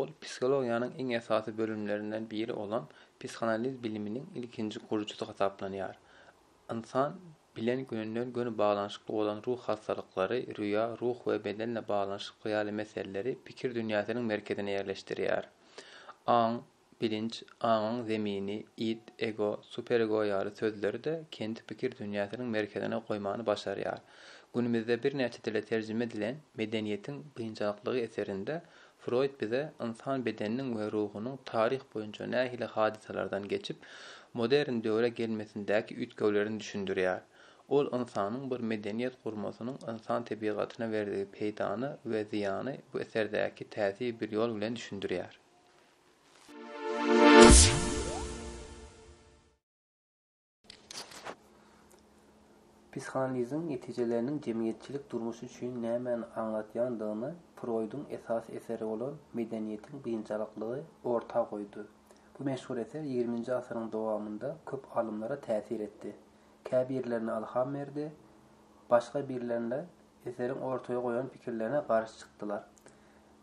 Ol psihologiýanyň iň esasy bölümlerinden biri bolan psihanaliz biliminiň ilkinji gurujysy hasaplanýar. Ynsan bilen gönüden-göni baglanyşykly bolan ruh hassalyklary, rüýa, ruh we bedenle baglanyşykly ýaly meseleleri pikir dünýäsiniň merkezine ýerleşdirýär. Aň, Bilinç, aňyň zemini, id, ego, superego ýaly sözleri-de kendi pikir dünýäsiniň merkezine goýmany başarýar. Günümizde birnäçe dile terjime edilen Medeniýetiň biynjalyklygy eserinde Froýd bize ynsan bedeniniň we ruhunyň taryh boýunça nähili hadysalardan geçip, modern döwre gelmesindäki üýtgewlerini düşündirýär. Ol ynsanyň bir medeniýet gurmasynyň ynsan tebigatyna berdigi peýdany we zyýany bu eserdäki täsir bir ýol bilen düşündirýär. Psihanaliziň netijeleriniň jemgyýetçilik durmuşy üçin nämäni aňladýandygyny Froýduň esasy eseri bolan Medeniýetiň biynjalyklygy orta goýdy. Bu meşhur eser ýigriminji asyryň dowamynda köp alymlara täsir etdi. Käbirlerine ylham berdi, başga birlerinde eseriň ortaya goýan pikirlerine garşy çykdylar.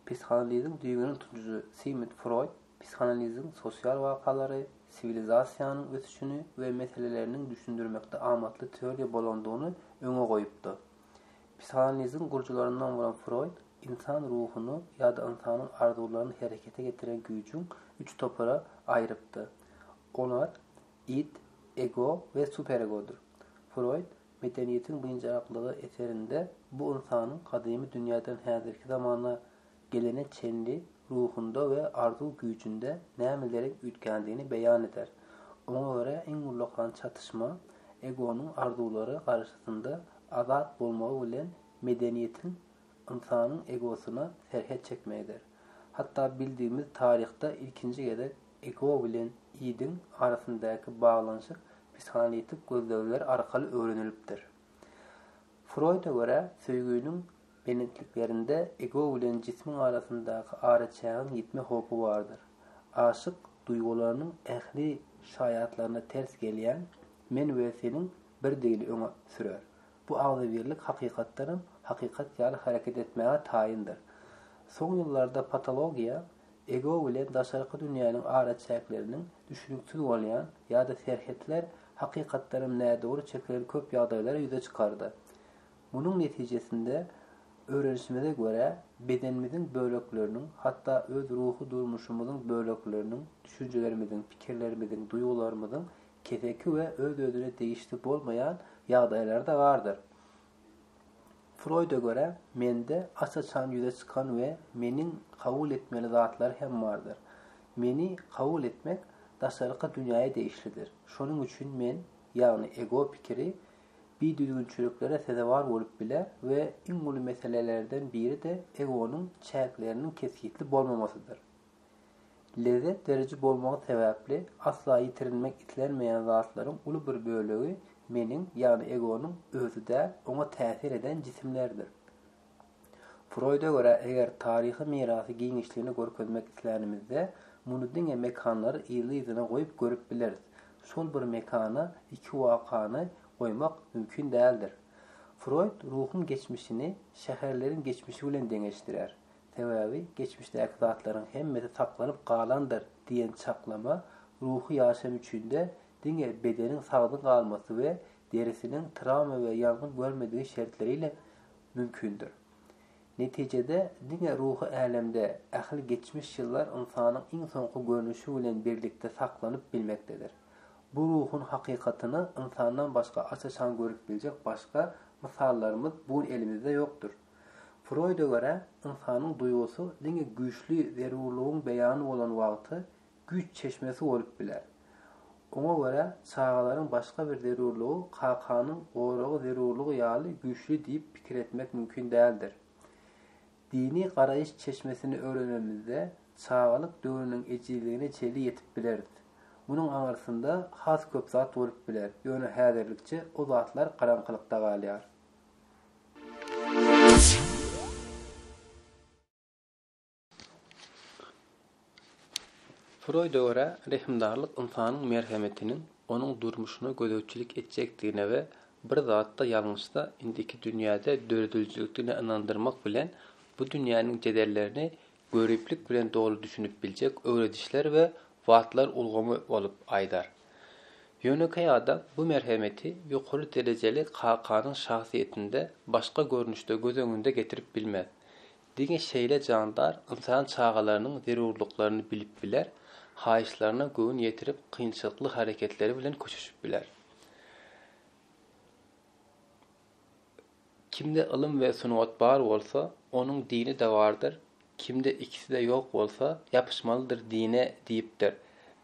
Psihanaliziň düýbüni tutujy Sigmund Froýd psihanaliziň sosial wakalary, siwilizasiýanyň ösüşini we meseleleriniň düşündirmekde amatly teoriýa bolandygyny öňe goýupdyr. Psihanaliziň gurujylaryndan bolan Froýd ynsan ruhuny ýa-da ynsanyň arzuwlaryny herekete getiren güýjüň üç topara aýrypdyr. Olar, id, ego we superegodyr. Froýd Medeniýetiň birinji aklygy eserinde bu ynsanyň gadymy dünýäden häzirki zamana gelene çenli ruhunda we arzuw güýjünde nämeleriň üýtgändigini beýan eder. Oňa görä iň ullakan çatyşma egonyň arzuwlary garaşysynda azat bolmagy bilen medeniýetiň ynsanyň egosyna serhet çekmegidir. Hatda bildigimiz taryhda ilkinji gezek Ego bilen idiň arasyndaky baglanyşyk psihanalitik gözlegler arkaly öwrenilipdir. Froýda görä, söýginiň belentliklerinde ego bilen jismiň arasyndaky araçägiň ýitme howpy bardyr. Aşyk duýgularynyň ähli şaýatlaryna ters gelýän men we seniň birdigini öňe sürer. Bu agzybirlik hakykatdanam hakykat ýaly hereket etmäge taýyndyr. Soň ýyllarda patologiýa ego bilen daşarky dünýäniň araçäkleriniň düşüniksiz bolýan ýa-da serhetler hakykatdanam nädogry çekilen köp ýagdaýlary ýüze çykardy. Munuň netijesinde öwrenişimize görä, bedenimiziň bölekleriniň, hatda öz ruhy durmuşymyzyň bölekleriniň, düşünjelerimiziň, pikirlerimiziň, duýgularymyzyň keseki we öz-özüne degişli bolmaýan ýagdaýlar-da bardyr. Froýda görä, mende aç-açan ýüze çykan we meniň kabul etmeli zatlar hem bardyr. Meni kabul etmek daşarky dünýäe degişlidir. Şonuň üçin men, ýagny ego pikiri, bidüzgünçiliklere sezewar bolup biler we iň uly meselelerden biri-de egonyň çäkleriniň kesgitli bolmamasydyr. Lezzet beriji bolmagy sebäpli asla ýitirilmek islenmeýän zatlaryň uly bir bölegi meniň, ýagny egonyň özi däl, oňa täsir eden jisimlerdir. Froýda görä, eger taryhy mirasy giňişligini görkezmek islänimizde, muny diňe mekanlary yzly-yzyna goýup görüp bileris. Şol bir mekana iki wakany goýmak mümkin däldir. Froýd ruhuň geçmişini şäherleriň geçmişi bilen deňeşdirýär. Sebäbi geçmişdäki zatlaryň hemmesi saklanyp galandyr diýen çaklama ruhy ýaşam üçin-de diňe bedeniň sagdyn galmasy we derisiniň trawma we ýangyn görmedigi şertleri ile mümkindir. Netijede, diňe ruhy älemde ähli geçmiş ýyllar ynsanyň iň soňky görnüşi bilen birlikde saklanyp bilmekdedir. Bu ruhuň hakykatyny ynsandan başga aç-açan görüp biljek başga mysallarymyz bugün elimizde ýokdur. Froýda görä, ynsanyň duýgusy diňe güýçli zerurlygyň beýany bolan wagty güýç çeşmesi bolup biler. Oňa görä, çagalaryň başga bir zerurlygy kakanyň goragy zerurlygy ýaly güýçli diýip pikir etmek mümkin däldir. Dini garaýyş çeşmesini öwrenenimizde, çagalyk döwrüniň ejizligine çenli ýetip bileris. Munuň aňyrsynda has köp zat bolup biler, ýöne häzirlikçe o zatlar garaňkylykda galýar. Froýda görä, rehimdarlyk ynsanyň merhemetiniň onuň durmuşyna gözegçilik etjekdigine we bir zatda ýalňyşsa, indiki dünýäde döredijilikdigine ynandyrmak bilen, bu dünýäniň jedellerini göriplik bilen doly düşünip biljek öwredişler we wagtlar ulgamy bolup aýdar. Ýönekeý adam bu merhemeti ýokary derejeli kakanyň şahsyýetinde başga görnüşde göz öňünde getirip bilmez. Diňe şeýle jandar ynsan çagalarynyň zerurlyklaryny bilip biler, haýyşlaryna göwün ýetirip kynçylykly hareketleri bilen köşeşip biler. Kimde ylym we sungat bar bolsa, onuň dini-de bardyr, kimde ikisi-de ýok bolsa, ýapyşmalydyr dine diýipdir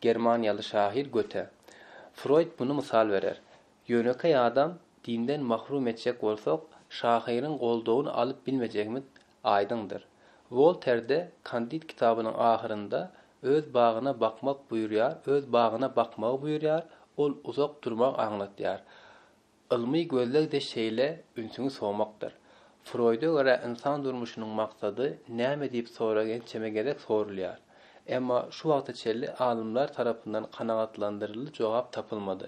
germaniýaly şahyr Göte. Froýd muny mysal berer. Ýönekeý adam dinden mahrum etjek bolsak, şahyryň goldawyny alyp bilmejegimiz aýdyňdyr. Wolter-de Kandid kitabynyň ahyrynda öz bagyna bakmak buýurýar, öz bagyna bakmagy buýurýar, ol uzak durmagy aňlatýar. Ylmy gözleg-de şeýle ünsüňi sowmakdyr. Froýda görä ynsan durmuşynyň maksady näme diýip sorag ençeme gezek sorulýar. Emma şu wagta çenli alymlar tarapyndan kanagatlandyryjy jogap tapylmady.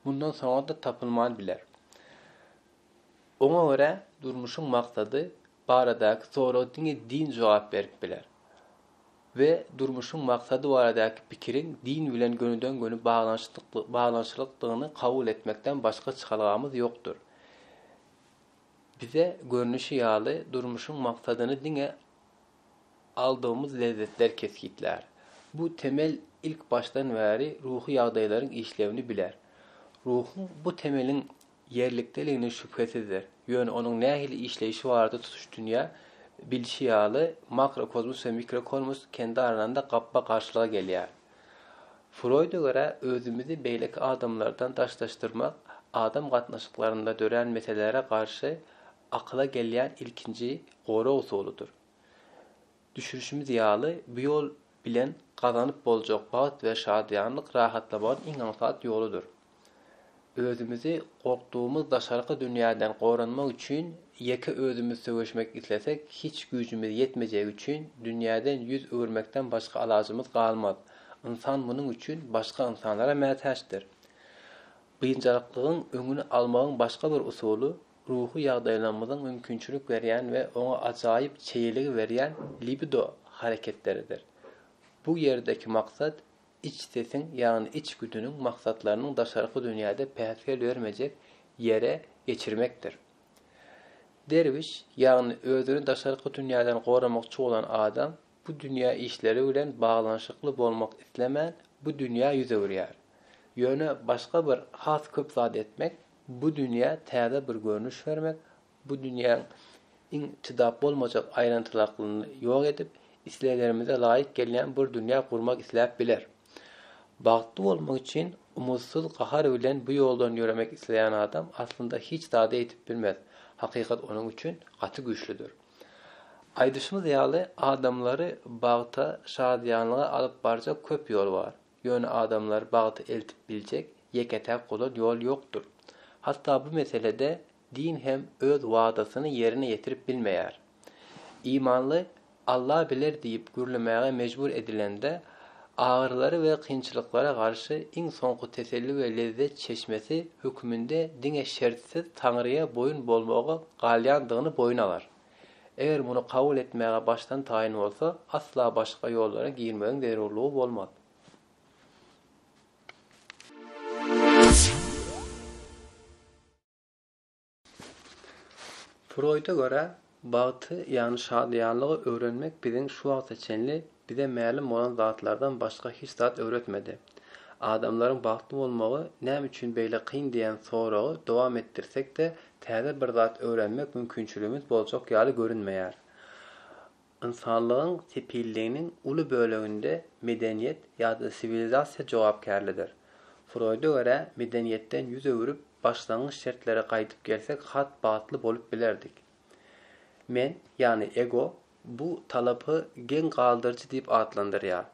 Mundan soňa-da tapylman biler. Oňa görä durmuşyň maksady baradaky sorag diňe din jogap berip biler we durmuşyň maksady baradaky pikiriň din bilen gönüden-göni baglanyşlykdygyny kabul etmekden başga çykalgamyz ýokdur. Bize görnüşi ýaly durmuşyň maksadyny diňe aldygymyz lezzetler kesgitlär. Bu temel ilk başdan bäri ruhy ýagdaýlaryň işlewini biler. Ruhuň bu temeliň ýerlikdeligine şübhesizdir, ýöne onuň nähili işleýşi barada tutuş dünýä, bilşi ýaly, makrokozmos we mikrokozmos kendi aralanda gapma-garşylyga gelýär. Froýda görä, özümizi beýleki adamlardan daşlaşdyrmak adam gatnaşyklarynda dörän meselelere garşy akyla gelýän ilkinji gorag usulydyr. Düşürişimiz ýaly, bu ýol bilen gazanyp boljak bagt we şadyýanlyk rahatlamagyň iň aňsat ýoludyr. Özümizi gorkdugymyz daşarky dünýäden goranmak üçin ýeke özümiz söweşmek islesek, hiç güýjümiz ýetmejegi üçin dünýäden ýüz öwürmekden başga alajymyz galmaz. Ynsan munuň üçin başga ynsanlara mätäçdir. Biynjalyklygyň öňüni almagyň başga bir usuly, Ruhy ýagdaýlarymyzyň mümkinçilik berýän we oňa ajaýyp çeýeligi berýän libido hareketleridir. Bu ýerdäki maksat iç sesiň, ýagny iç güdüniň maksatlarynyň daşarky dünýäde päsgel bermejek ýere geçirmekdir. Derwiş, ýagny özüni daşarky dünýäden goramakçy bolan adam, bu dünýä işleri bilen baglanyşykly bolmak islemän, bu dünýä ýüz öwürýär. Ýöne başga bir has köp zat etmek, bu dünýä täze bir görnüş bermek, bu dünýäň iň çydap bolmajak aýrantylaklygyny ýok edip, isleglerimize laýyk gelýän bir dünýä gurmak isläp biler. Bagtly bolmak üçin umytsyz gahar bilen bu ýoldan ýöremek isleýän adam aslynda hiç zady ýitip bilmez, hakykat onuň üçin gaty güýçlüdir. Aýdyşymyz ýaly, adamlary bagta, şadyýanlyga alyp barjak köp ýol bar. Ýöne adamlary bagta eltip biljek ýeke-täk ozal ýol ýokdur. Hatda bu meselede din hem öz wadasyny ýerine ýetirip bilmeýär. Imanly Alla biler diýip gürlemäge mejbur edilende, agyrylara we kynçylyklara garşy iň soňky teselli we lezzet çeşmesi höküminde diňe şertsiz Taňryýa boýun bolmagy galýandygyny boýun alar. Eger muny kabul etmäge başdan taýyn bolsa, asla başga ýollara girmegiň zerurlygy bolmaz. Froýda görä, bagty, ýagny şadyýanlygy öwrenmek biziň şu wagta çenli Bize mälim bolan zatlardan başga hiç zat öwretmedi. Adamlaryň bagtly bolmagy näme üçin beýle kyn diýen soragy dowam etdirsek-de, täze bir zat öwrenmek mümkinçiligimiz boljak ýaly görünmeýär. Ynsanlygyň sepilliginiň uly böleginde medeniýet ýa-da siwilizasiýa jogapkärlidir. Froýda görä, medeniýetden ýüz öwrüp, başlangyç şertlere gaýdyp gelsek has bagtly bolup bilerdik. Men, ýagny ego, bu talapy geň galdyryjy diýip atlandyrýar.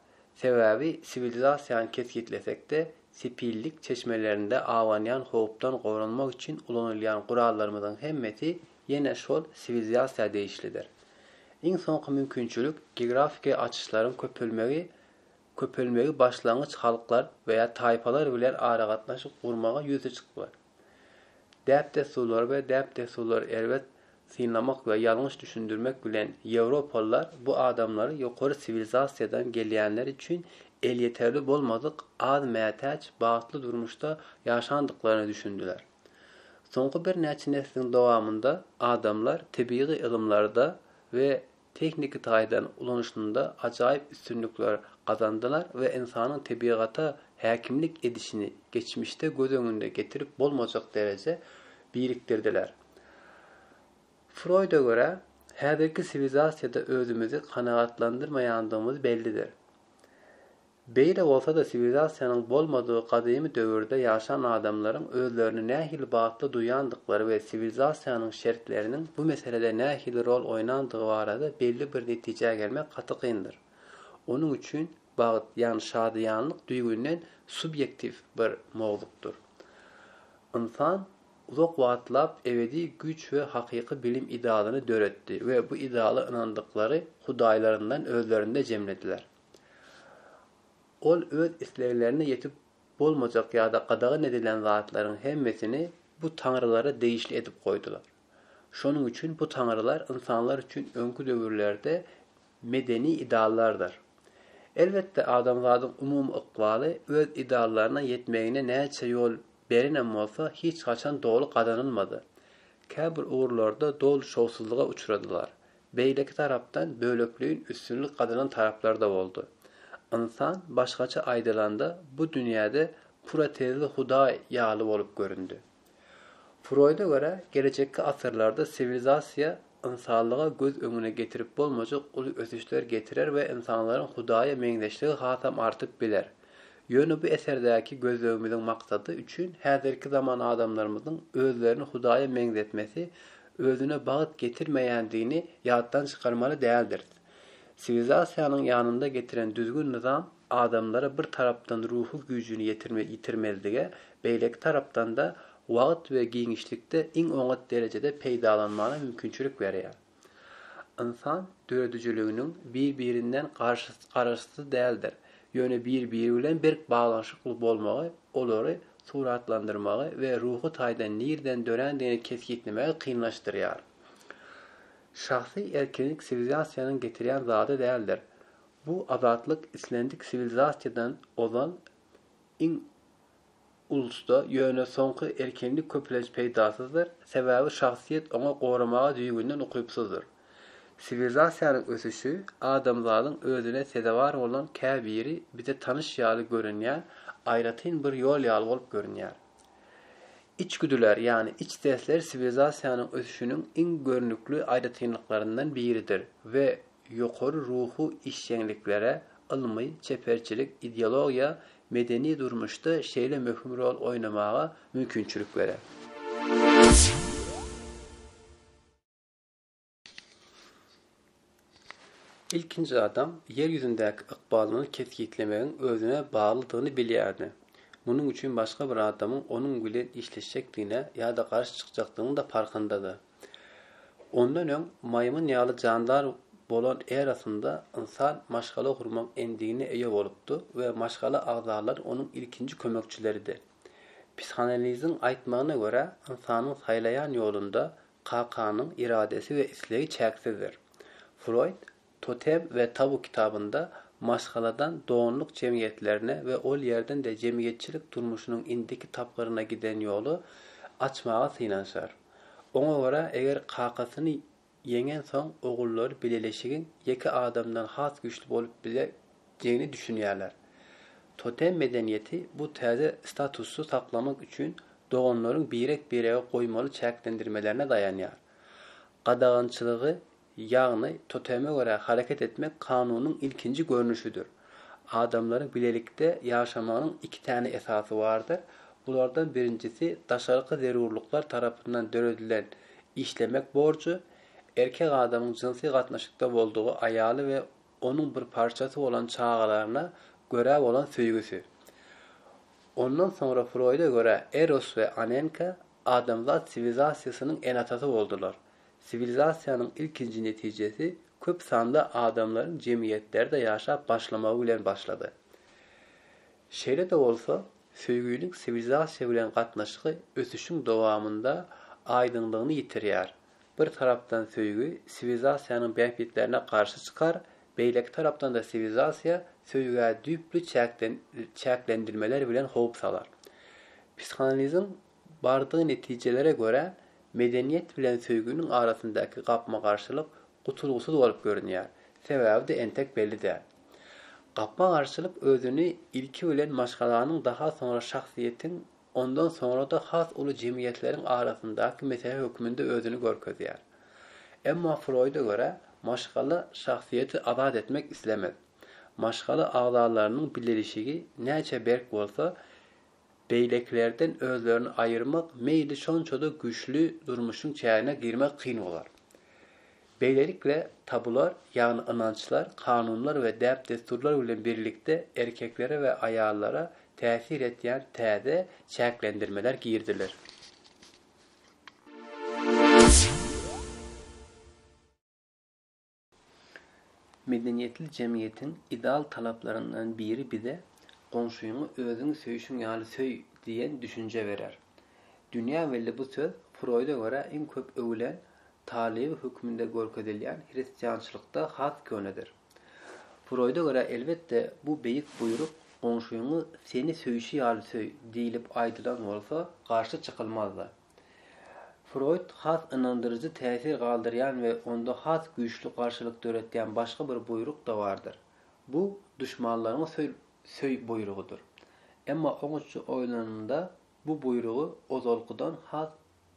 Sebäbi siwilizasiýany kesgitlesek-de, sepillik çeşmelerinde abanýan howpdan goranmak üçin ulanylýan gurallarymyzyň hemmesi ýene şol siwilizasiýa degişlidir. Iň soňky mümkinçilik geografiki açyşlaryň köpelmegi köpelmegi başlangyç halklar we ýa taýpalar bilen aragatnaşyk gurmaga ýüze çykmak. Däp-dessurlary we däp-dessurlary erbet synlamak we ýalňyş düşündirmek bilen ýewropalylar bu adamlary ýokary siwilizasiýadan gelýänler üçin elýeterli bolmadyk az mätäç bagtly durmuşda ýaşandyklaryna düşündiler. Soňky birnäçe nesliň dowamynda adamlar tebigy ylymlarda we tehniki taýdan ulanyşynda ajaýyp üstünlikler gazandylar we ynsanyň tebigata häkimlik edişini geçmişde göz öňünde getirip bolmajak derejä birikdirdiler. Froýda görä, häzirki siwilizasiýada özümizi kanagatlandyrmaýandygymyz bellidir. Beýle bolsa-da siwilizasiýanyň bolmadygy gadymy döwürde ýaşan adamlaryň özlerini nähili bagtly duýandyklary we siwilizasiýanyň şertleriniň bu meselede nähili rol oýnandygy barada belli bir netijä gelmek gaty kyndyr. Onuň üçin bagt, ýagny şadyýanlyk düýbünden subýektiw bir mowzukdyr. Ynsan uzak wagtlap ebedi güýç we hakyky bilim idealyny döretdi we bu ideala ynandyklary hudaýlaryndan özlerinde jemlediler. Ol öz isleglerine ýetip bolmajak ýa-da gadagan edilen zatlaryň hemmesini bu taňrylara degişli edip goýdular. Şonuň üçin bu taňrylar ynsanlar üçin öňki döwürlerde medeni ideallardyr. Elbetde, adamzadyň umumy ykbaly öz ideallaryna ýetmegine näçe ýol berenem bolsa, hiç haçan doly gazanylmady. Käbir ugurlarda doly şowsuzlyga uçradylar. Beýleki tarapdan bölekleýin üstünlik gazanan taraplar-da boldy. Ynsan, başgaça aýdylanda, bu dünýäde protezli hudaý ýaly bolup göründi. Froýda görä, gelejekki asyrlarda siwilizasiýa ynsanlyga göz öňüne getirip bolmajak uly ösüşler getirer we ynsanlaryň hudaýa meňzeşligi hasam artyp biler. Ýöne bu eserdäki gözlegimiziň maksady üçin häzirki zaman adamlarymyzyň özlerini hudaýa meňzetmesi özüne bagt getirmeýändigini ýatdan çykarmaly däldiris. Siwilizasiýanyň ýanynda getiren düzgün-nyzam adamlara bir tarapdan ruhy güýjüni ýitirmezlige, beýleki tarapdan-da wagt we giňişlikde iň oňat derejede peýdalanmana mümkinçilik berýär. Ynsan döredijiliginiň bir-birinden garaşysy däldir, ýöne bir-biri bilen berk baglanyşykly bolmagy olary suratlandyrmagy we ruhy taýdan nirden dörändigini kesgitlemegi kynlaşdyrýar. Şahsy erkinlik siwilizasiýanyň getirýän zady däldir. Bu azatlyk islendik siwilizasiýadan ozal iň ulusda, ýöne soňky erkinlik köplenç peýdasyzdyr, sebäbi şahsyýet oňa goramaga düýbünden ukypsyzdyr. Siwilizasiýanyň ösüşi adamzadyň özüne sezewar bolan käbiri bize tanyş ýaly görünýän aýratyn bir ýol ýaly bolup görünýär. Içgüdüler, ýagny iç sesler siwilizasiýanyň ösüşiniň iň görnükli aýratynlyklaryndan biridir we ýokary ruhy işjeňliklere, ylmy, çeperçilik, ideologiýa, medeni durmuşda şeýle möhüm rol oýnamaga mümkinçilik berer. Ilkinji adam Ýer ýüzündäki ykbalyny kesgitlemegiň özüne baglydygyny bilýärdi. Munuň üçin başga bir adamyň onuň bilen işleşjekdigine ýa-da garşy çykjakdygynyň-da parhyndydy. Ondan öň maýmyn ýaly jandar bolan erasynda ynsan maşgala gurmak endigine eýe bolupdy we maşgala agzalary onuň ilkinji kömekçileridi. Psihanaliziň aýtmagyna görä, ynsanyň saýlaýan ýolunda Kakanyň iradesi we islegi çäksizdir. Froýd Totem we tabu kitabynda maşgaladan donluk jemgyýetlerine we ol ýerden-de jemgyýetçilik durmuşynyň indiki tapgyryna giden ýoly açmaga synanyşar. Oňa görä, eger kakasyny ýeňensoň ogullary bileleşigiň ýeke adamdan has güýçli bolup bile diýeni düşünýärler. Totem medeniýeti bu täze statusy saklamak üçin doganlaryň birek-birege goýmaly çäklendirmelerine daýanýar. Gadagançylygy, ýagny toteme görä hareket etmek kanunyň ilkinji görnüşidir. Adamlaryň bilelikde ýaşamagynyň iki täne esasy bardyr, bulardan birinjisi daşarky zerurlyklar tarapyndan döredilen işlemek borjy, erkek adamyň jynsy gatnaşykda boldugy aýaly we onuň bir parçasy bolan çagalaryna görä bolan söýgüsi. Ondan soňra Froýda görä Eros we Anenka adamzat siwilizasiýasynyň ene-atasy boldular. Siwilizasiýanyň ilkinji netijesi köp sanly adamlaryň jemgyýetlerde ýaşap başlamagy bilen başlady. Şeýle-de bolsa, söýgüniň siwilizasiýa bilen gatnaşygy ösüşiň dowamynda aýdyňlygyny ýitirýär. Bir tarapdan söýgi siwilizasiýanyň bähbitlerine garşy çykar, beýleki tarapdan-da siwilizasiýa söýgä düýpli çäklendirmeler bilen howp salar. Psihanaliziň bardygy netijelere görä, medeniýet bilen söýginiň arasyndaky gapma-garşylyk gutulgysyz bolup görünýär. Sebäbi-de entek belli däl. Gapma-garşylyk özüni ilki bilen maşgalanyň, daha soňra şahsyýetiň ondan soňra-da has uly jemgyýetleriň arasyndaky mesele hökmünde özüni görkezýär. Emma Froýda görä, maşgala şahsyýeti azat etmek islemez. Maşgala agzalarynyň bilelişigi näçe berk bolsa, beýlekilerden özlerini aýyrmak meýli şonça-da güýçli durmuşyň çägine girmek kyn bolar. Beýlelikle, tabular, ýagny ynançlar, kanunlar we däp-dessurlar bilen birlikde erkeklere we aýallara täsir etýän täze çäklendirmeler giriziler. Medeniýetli jemgyýetiň ideal talaplaryndan biri bize Goňşyňy özüňi söýşüň ýaly söý diýen düşünje berer. Dünýä belli bu söz Froýda görä iň köp öwülen talyby hökmünde görkezilýän hristiançylykda has könedir. Froýda görä, elbetde, bu beýik buýruk Goňşyňy seni söýşi ýaly söý diýlip aýdylan bolsa, garşy çykylmazdy. Froýd has ynandyryjy täsir galdyrýan we onda has güýçli garşylyk döretýän başga bir buýruk-da bardyr. Bu duşmanlaryňy söý buýrugydyr. Emma oňatja oýlanylanda, bu buýrugy ozalkydan has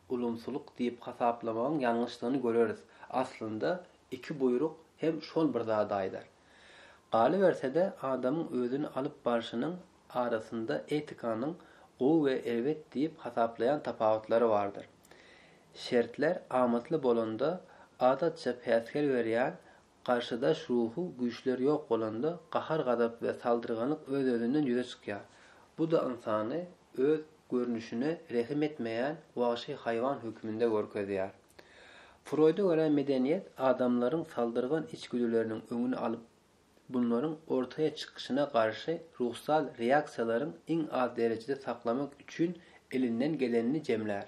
ulumsylyk diýip hasaplamagyň ýalňyşdygyny göreris. Aslynda, iki buýruk hem şol bir zady aýdar. Galyberse-de, adamyň özüni alyp barşynyň arasynda etikanyň gowy we erbet diýip hasaplaýan tapawutlary bardyr. Şertler amatly bolanda, adatça päsgel berýän Garşydaş ruhy güýçler ýok bolanda, gahar-gazap we saldyrganyk öz-özünden ýüze çykýar. Bu-da ynsany öz görnüşine rehim etmeýän wagşy haýwan hökmünde görkezýär. Froýda görä medeniýet adamlaryň saldyrgan içgüdüleriniň öňüni alyp, bunlaryň ortaýa çykyşyna garşy ruhsal reaksiýalaryň iň az derejede saklamak üçin elinden gelenini jemlär.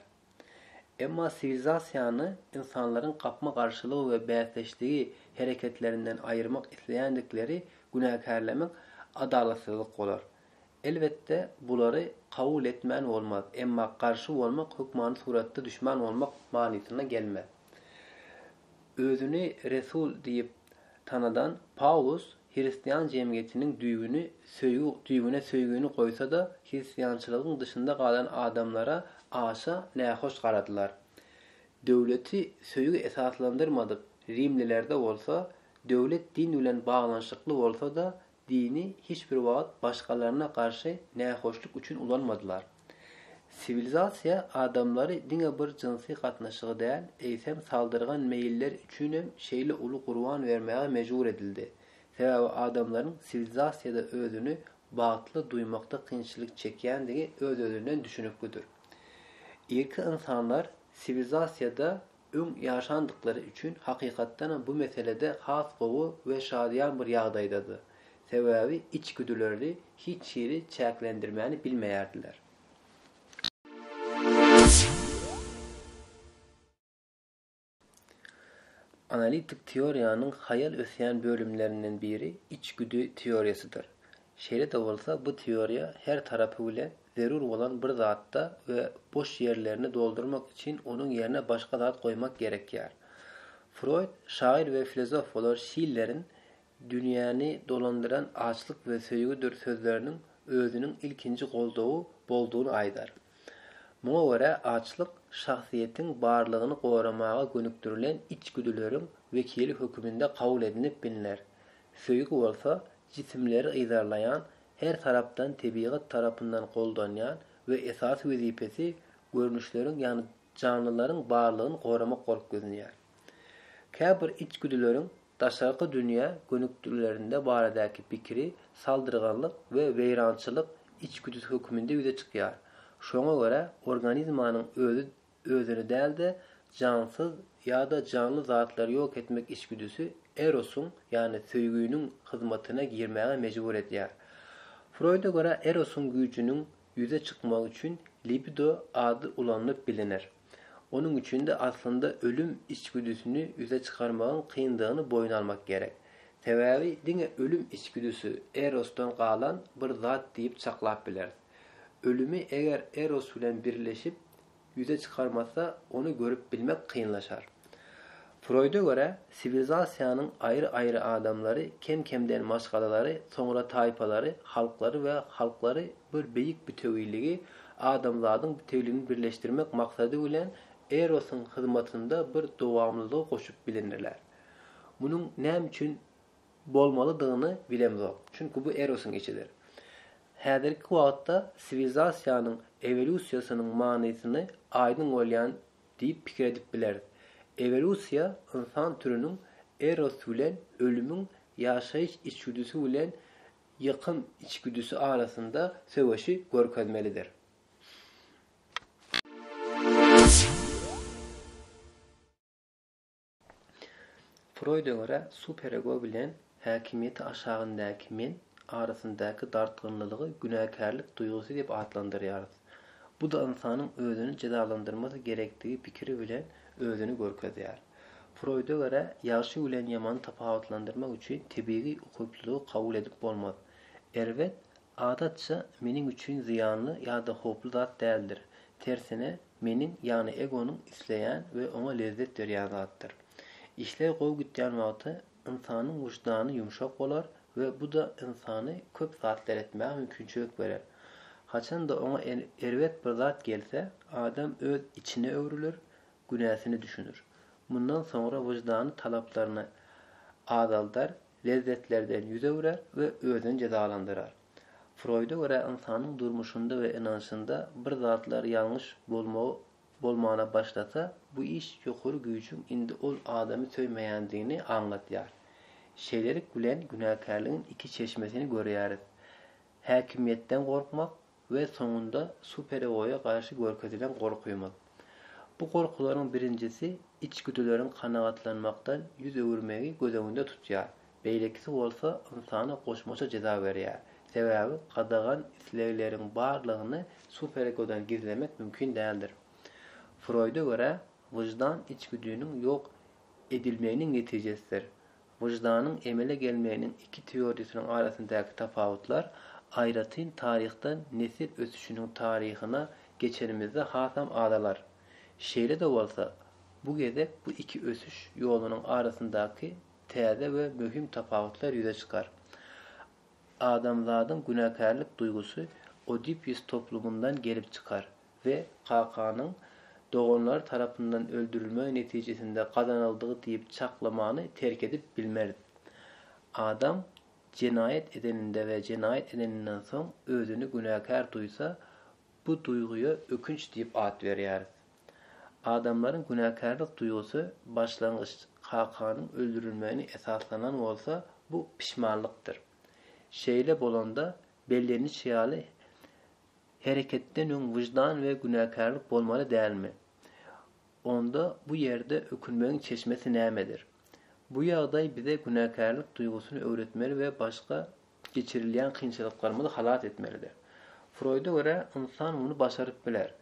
Emma siwilizasiýany ynsanlaryň gapma-garşylygy we bäsdeşligi hereketlerinden aýyrmak isleýändikleri günäkärlemek adalatsyzlyk bolar. Elbetde, bulary kabul etmän bolmaz, emma garşy bolmak hökmany suratda düşman bolmak manysyna gelmez. Özüni resul diýip tanadan Pawlus hristian jemgyýetiniň düýbüni söýgi düýbüne söýgini goýsa-da, hristiançylygyň dyşynda galan adamlara aşa nähoş garadylar. Döwleti söýgi esaslandyrmadyk rimlilerde bolsa, döwlet din bilen baglanyşykly bolsa-da, Dini hiç bir wagt başgalaryna garşy nähoşluk üçin ulanmadylar. Siwilizasiýa adamlary diňe bir jynsy gatnaşygy däl, eýsem saldyrgan meýilleri üçinem şeýle uly gurban bermäge mejbur edildi. Sebäbi adamlaryň siwilizasiýada özüni bagtly duýmakda kynçylyk çekýändigi öz-özünden düşüniklidir. Irki ynsanlar siwilizasiýada Öň ýaşandyklary üçin hakykatdanam bu meselede has gowy we şadyýan bir ýagdaýdady. Sebäbi içgüdülerdi hiç hili çäklendirmäni bilmeýärdiler. Analitik teoriýanyň haýal ösýän bölümlerinden biri içgüdi teoriýasydyr. Şeýle-de bolsa bu teoriýa her tarapy bilen Zerur bolan bir zatda we boş ýerlerini doldurmak üçin onuň ýerine başga zat goýmak gerekýär. Froýd şahyr we filozof bolar Şillerin Dünýäni dolandyran açlyk we söýgüdir sözleriniň özüniň ilkinji goldawy boldugyny aýdar. Muňa görä açlyk şahsyýetiň barlygyny goramaga gönükdirilen içgüdüleriň wekili höküminde kabul edinip bilner, söýgi bolsa jisimleri yzarlaýan her tarapdan tebigat tarapyndan goldanýan we esasy wezipesi görnüşleriň ýagny janlylaryň barlygyny goramak bolup gözlenýär. Käbir içgüdüleriň daşarky dünýä gönükdirilerinde baradaky pikiri saldyrganlyk we weýrançylyk içgüdüsi höküminde ýüze çykýar. Şoňa görä organizmanyň özi Özüni däl-de, jansyz ýa-da janly zatlary ýok etmek içgüdüsi erosyň, ýagny söýginiň hyzmatyna girmäge mejbur edýär. Froýda görä erosyň güýjüniň ýüze çykmagy üçin libido ady ulanylyp biliner. Onuň üçin-de aslynda ölüm içgüdüsini ýüze çykarmagyň kyndygyny boýun almak gerek. Sebäbi diňe ölüm içgüdüsi erosdan galan bir zat diýip çaklap bileris. Ölümi eger eros bilen birleşip, ýüze çykarmasa, ony görüp bilmek kynlaşar. Froýda görä, siwilizasiýanyň aýry-aýry adamlary kem-kemden maşgalalary, soňra taýpalary, halklary we halklary bir beýik bütewiligi, adamzadyň bütewligini birleşdirmek maksady bilen Erosyň hyzmatynda bir dowamlylygy goşup bilinirler. Munuň näme üçin bolmalydygyny bilemzok, çünki bu Erosyň işidir. Häzirki wagtda siwilizasiýanyň ewolýusiýasynyň manysyny aýdyň bolýan diýip pikir edip bileris. Ewolýusiýa ynsan türüniň Eros bilen ölümiň ýaşaýyş içgüdüsi bilen ýykym içgüdüsi arasynda söweşi görkezmelidir. Froýda görä, superego bilen häkimiýeti aşagyndaky men arasyndaky dartgynlylygy günäkärlik duýgusy diýip atlandyrýarys. Bu-da ynsanyň özüni jezalandyrmasy gerekdigi pikiri bilen özüni görkezýär. Froýda görä, ýagşy bilen ýamany tapawutlandyrmak üçin tebigy ukyplylygy kabul edip bolmaz. Erbet Adatça, meniň üçin zyýanly ýa-da howply zat däldir. Tersine, meniň, ýagny egonyň isleýän we oňa lezzet berýän zatdyr. Işler gowy gitýän wagty ynsanyň wyždany ýumşak bolar we bu-da ynsany köp zatlar etmäge mümkinçilik berer. Haçan-da oňa erbet bir zat gelse, adam öz içine öwrüler, günäsini düşüner. Mundan soňra wyždany talaplaryny azaldar lezzetlerden ýüz öwrer we özüni jezalandyrar. Froýda görä ynsanyň durmuşynda we ynanşynda bir zatlar ýalňyş bolmagy bolmana başlasa, bu iş ýokary güýjüň indi ol adamy söýmeýändigini aňlatýar. Şeýlelik bilen günäkärligiň iki çeşmesini görýäris, häkimiýetden gorkmak we soňunda superegoýa garşy görkezilen gorkymyz. Bu gorkularyň birinjisi içgüdüleriň kanagatlanmakdan ýüz öwürmegi göz öňünde tutýar, beýlekisi bolsa ynsana goşmaça jeza berýär, sebäbi gadagan islegleriň barlygyny superegodan gizlemek mümkin däldir. Froýda görä, wyždan içgüdiniň ýok edilmeginiň netijesidir. Wyždanyň emele gelmeginiň iki teoriýasynyň arasyndaky tapawutlar aýratyn taryhdan nesil ösüşiniň taryhyna geçenimizde hasam azalar. Şeýle-de bolsa, bu gezek bu iki ösüş ýolunyň arasyndaky täze we möhüm tapawutlar ýüze çykar. Adamzadyň günäkärlik duýgusy Oedipus toplumyndan gelip çykar we kakanyň doganlary tarapyndan öldürilmegi netijesinde gazanyldygy diýip çaklamany terk edip bilmeris. Adam jenaýat edeninde we jenaýat edeninden soň özüni günäkär duýsa, bu duýgyýa ökünç diýip at berýäris. Adamlaryň günäkärlik duýgusy başlangyç kakanyň öldürilmegini esaslanan bolsa, bu pişmanlykdyr. Şeýle bolanda, belleniçi ýaly, Hereketden öň wyždan we günäkärlik bolmaly dälmi? Onda bu ýerde ökünmegiň çeşmesi nämedir? Bu ýagdaý bize günäkärlik duýgusyny öwretmeli we başga geçirilýän kynçylyklarymyzy halas etmelidir. Froýda görä, ynsan muny başaryp biler.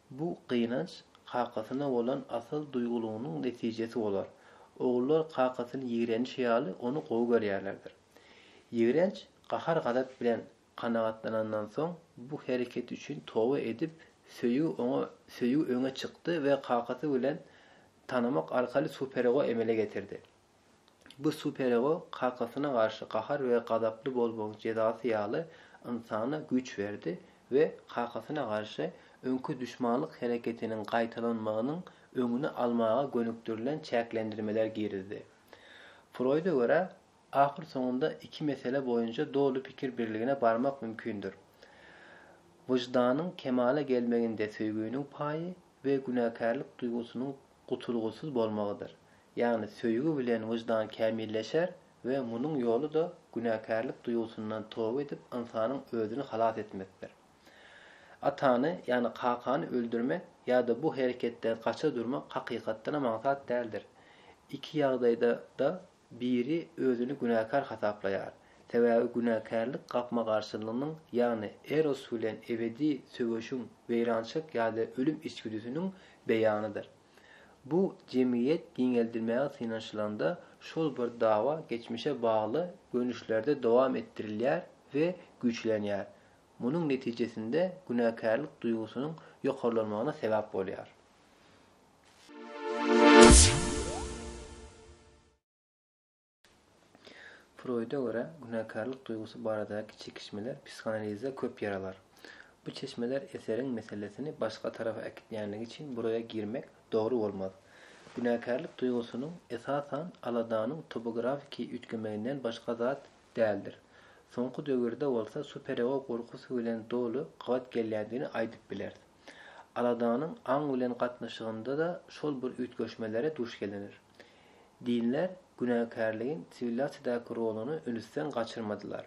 Bu gynanç kakasyna bolan asyl duýgulygynyň netijesi bolar. Ogullar kakasyny ýigrenişi ýaly ony gowy görýärlerdir. Ýigrenç gahar-gazap bilen Kanagatlanandan soň, bu hereketi üçin toba edip, söýgi oňa söýgi öňe çykdy we kakasy bilen tanamak arkaly superego emele getirdi. Bu superego kakasyna garşy gahar we gazaply bolmagyň jezasy ýaly ynsana güýç berdi we kakasyna garşy öňki duşmanlyk hereketiniň gaýtalanmagynyň öňüni almaga gönükdirilen çäklendirmeler girizdi. Froýda görä, Ahyrsoňunda iki mesele boýunça doly pikir birligine barmak mümkindir. Wyždanyň kemala gelmeginde söýginiň paýy we günäkärlik duýgusynyň gutulgysyz bolmagydyr. Ýagny söýgi bilen wyždan kämilleşer we munuň ýoly-da günäkärlik duýgusyndan toba edip ynsanyň özüni halas etmekdir. Atany, ýagny kakany öldürmek ýa-da bu hereketden gaça durmak hakykatdanam aňsat däldir. Iki ýagdaýda-da Biri özüni günäkär hasaplaýar, sebäbi günäkärlik gapma-garşylygynyň, ýagny Eros bilen ebedi söweşiň, weýrançylyk ýa-da ölüm içgüdüsiniň beýanydyr. Bu jemgyýet giňeldilmäge synanyşylanda, şol bir dawa geçmişe bagly görnüşlerde dowam etdirilýär we güýçlenýär, munuň netijesinde günäkärlik duýgusynyň ýokarlanmagyna sebäp bolýar. Froýda görä, günäkärlik duýgusy baradaky çekişmeler psihanalizde köp ýer alar. Bu çeşmeler eseriň meselesini başga tarapa äkitýänligi üçin buraýa girmek dogry bolmaz. Günäkärlik duýgusynyň esasan aladanyň topografiki üýtgemeginden başga zat däldir. Soňky döwürde bolsa superego gorkusy bilen doly gabat gelýändigini aýdyp bileris. Aladanyň aň bilen gatnaşygynda-da şol bir üýtgeşmelere duş gelinir. Dinler günäkärligiň siwilizasiýadaky roluny ünüsden gaçyrmadylar.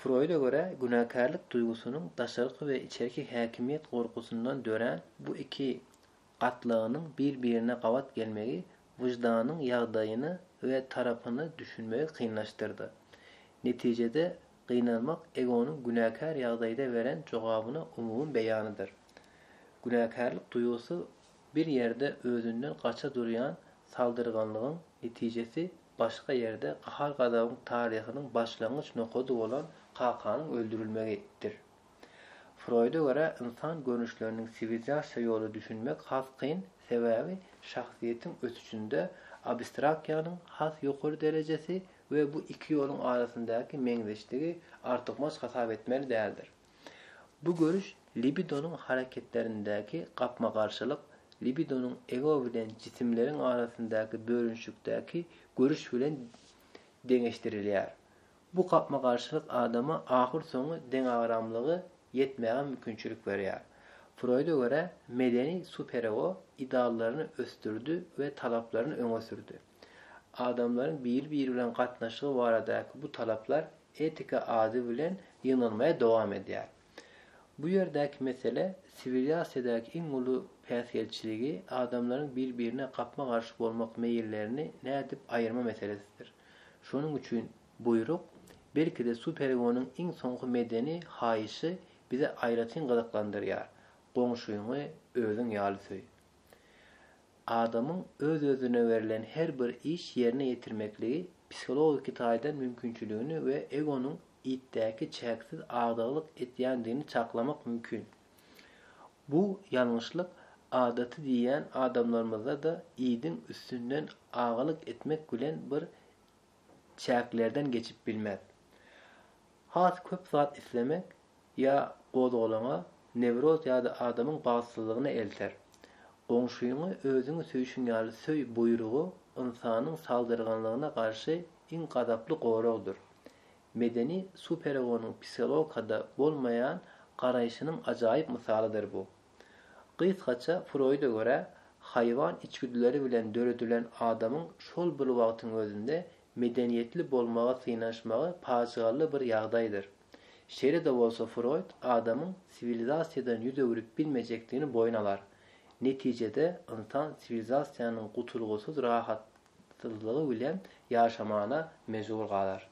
Froýda görä, günäkärlik duýgusynyň daşarky we içerki häkimiýet gorkusyndan dörän bu iki gatlagynyň bir-birine gabat gelmegi wyždanyň ýagdaýyny we tarapyny düşünmegi kynlaşdyrdy. Netijede Gynanmak egonyň günäkär ýagdaýda beren jogabyna umumy beýanydyr. Günäkärlik duýgusy bir ýerde özünden gaça durýan saldyrganlygyň netijesi, başga ýerde gahar-gazabyň taryhynyň başlangyç nokady bolan kakanyň öldürilmegi, dir. Froýda görä, ynsan görnüşleriniň siwilzasiýa ýoly düşünmek has kyn, sebäbi şahsyýetiň ösüşinde abstrakiýanyň has ýokary derejesi we bu iki ýoluň arasyndaky meňzeşdigi artykmaç hasap etmeli däldir. Bu görüş libidonyň hareketlerindäki gapma-garşylyk libidonyň ego bilen jisimleriň arasyndaky bölünişikdäki görüş bilen deňeşdirilýär. Bu gapma-garşylyk adama ahyrsoňy deňagramlygy ýetmäge mümkinçilik berýär. Froýda görä, medeni superego ideallaryny ösdürdi we talaplaryny öňe sürdi. Adamlaryň biri-biri bilen gatnaşygy baradaky bu talaplar etika ady bilen ýygnalmaýa dowam edýär. Bu ýerdäki mesele siwiliasiýadaky iň uly päsgelçiligi, adamlaryň bir-birine gapma-garşy bolmak meýillerini nädip aýyrma meselesidir. Şonuň üçin buýruk, belki-de Superegonyň iň soňky medeni haýyşy bizi aýratyn gyzyklandyrýar, Goňşyňy özüň ýaly söý. Adamyň öz-özüne berlen her bir iş ýerine ýetirmekligi psihologiki taýdan mümkinçiligini we egonyň itdäki çäksiz agdyklyk etýändigini çaklamak mümkin. Bu ýalňyşlyk adaty diýýän adamlarymyzda-da idiň üstünden agalyk etmek bilen bir çäklerden geçip bilmez. Has köp zat islemek ýa gozgalaňa, newroz ýa-da adamyň bagtsyzlygyna elter. Goňşyňy özüňi söýşüň ýaly söý buýrugy ynsanyň saldyrganlygyna garşy iň gazaply goragdyr. Medeni superegonyň psihologikada bolmaýan garaýşynyň ajaýyp mysalydyr bu. Gysgaça Froýda görä, haýwan içgüdüleri bilen döredilen adamyň şol bir wagtyň özünde medeniýetli bolmaga synanyşmagy pajygaly bir ýagdaýdyr. Şeýle-de bolsa Froýd adamyň siwilizasiýadan ýüz öwrüp bilmejekdigini boýun alar. Netijede ynsan siwilizasiýanyň gutulgysyz rahatsyzlygy bilen ýaşamana mejbur galar.